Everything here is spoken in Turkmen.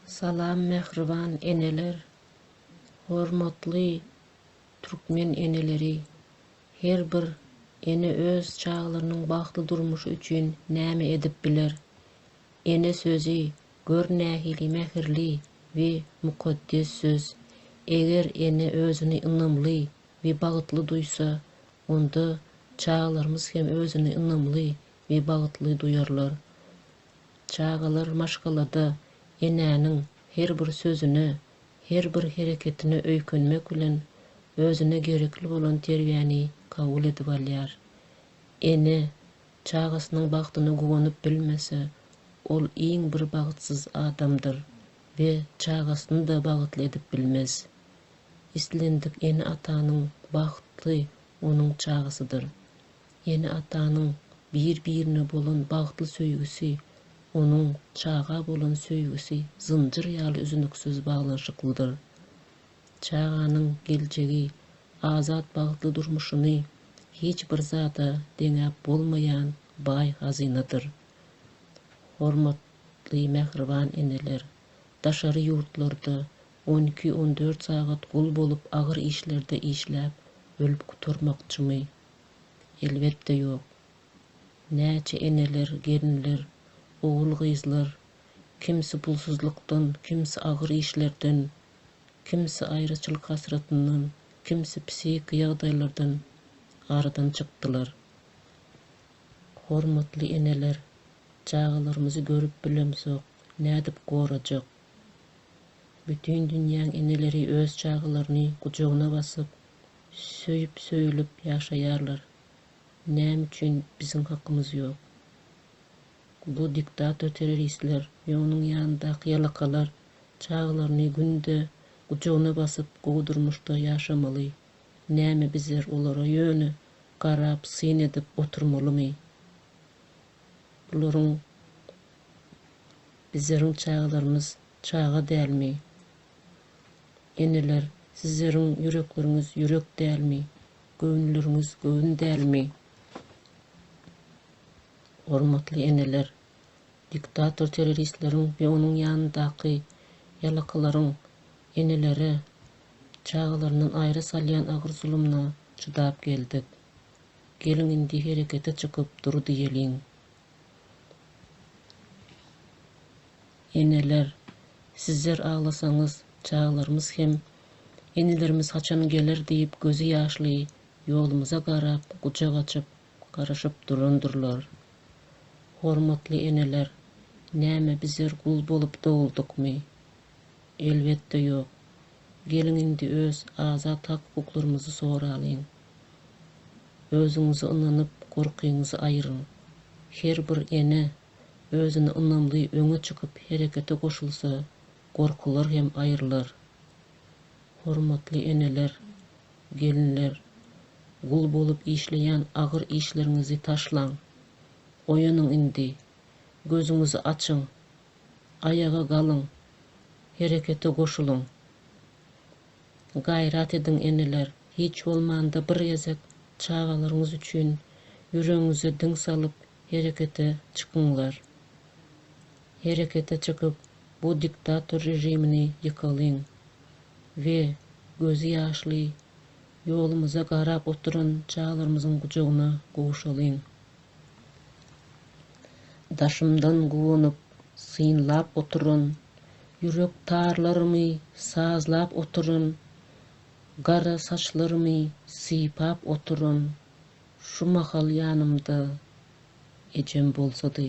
Salam mähriban eneler, hormatly türkmen eneleri! Her bir ene öz çagalarynyň bagtly durmuşy üçin näme edip biler? Ene sözi, gör nähili mähirli we mukaddes söz! Eger ene özüni ynamly we bagtly duýsa, onda çagalarymyz hem özüni ynamly we bagtly duýarlar. Çagalar maşgalada enäniň her bir sözüne, her bir hereketine öýkenmek bilen özüne gerekli bolan terbiýäni kabul edip alýar. Ene çagasynyň bagtyna guwanyp bilmese, ol iň bir bagtsyz adamdyr we çagasyny-da bagtly edip bilmez. Islendik ene-atanyň bagty onuň çagasydyr. Ene-atanyň bir-birine bolan bagtly söýgüsi, onuň çaga bolan söýgüsi zynjyr ýaly üzüniksiz baglanyşyklydyr. Çaganyň geljegi, azat bagtly durmuşyny hiç bir zada deňäp bolmaýan baý hazynadyr. Hormat ly mähriban eneler, daşary ýurtlarda on iki-on dört sagat gul bolup agyr işlerde işläp ölüp gutarmakçymy Elbetde ýok. Näçe eneler, gelinler, ogul-gyzlar, kimsi pulsuzlykdan, kimsi agyr işlerden, kimsi aýraçylyk hasratyndan, kimsi psihiki ýagdaýlardan aradan çykdylar. Hormatly eneler, çagalarymyzy görüp bilemzok, nädip gorajak? Bütin dünýäň eneleri öz çagalaryny gujagyna basyp, söýüp söýülip ýaşaýarlar näme üçin biziň hakymyz ýok bu diktator terroristler we onuň ýanyndaky ýalakalar çagalaryny günde gujagyna basyp gowy durmuşda ýaşamaly näme bizler olara ýöne garap syn edip oturmalymy bularyň bizleriň çagalarymyz çaga dälmi. Eneler, sizleriň ýürekleriňiz ýürek dälmi, göwünleriňiz göwün dälmi? Hormatly eneler, diktator terroristleriň we onuň ýanyndaky ýalakylaryň enelere çagalaryndan aýra salýan agyr zulumyna çydap geldik. Geliň indi herekete çykyp dur diýeliň. Eneler sizler aglasaňyz çagalarymyz hem enelerimiz haçan geler diýip gözi ýaşly ýolumyza garap gujak açyp garaşyp durandyrlar. Hormatly eneler näme bizler gul bolup doguldykmy? Elbetde ýok. Geliň indi öz azat hak-hukuklarymyzy soralyň. Özüňize ynanyp, gorkyňyzy aýyryň. Her bir ene özüne ynamly öňe çykyp herekete goşulsa, gorkular hem aýrylar. Hormatly eneler, gelinler, gul bolup işleýän agyr işleriňizi taşlaň. Oýanyň indi. Gözüňizi açyň. Aýaga galyň. Herekete goşulyň. Gaýrat ediň eneler, hiç bolmanda bir gezek çagalaryňyz üçin ýüregiňize diň salyp herekete çykyňlar. Herekete çykyp bu diktator režimini ýykalyň we gözi ýaşly ýolumyza garap oturan çagalarymyzyň gujagyna gowşalyň. Daşymdan guwanyp, synlap oturan, Ýürek tarlarymy sazlap oturan, Gara saçlarymy sypap oturan, Şu mahal ýanymda ejem bolsady.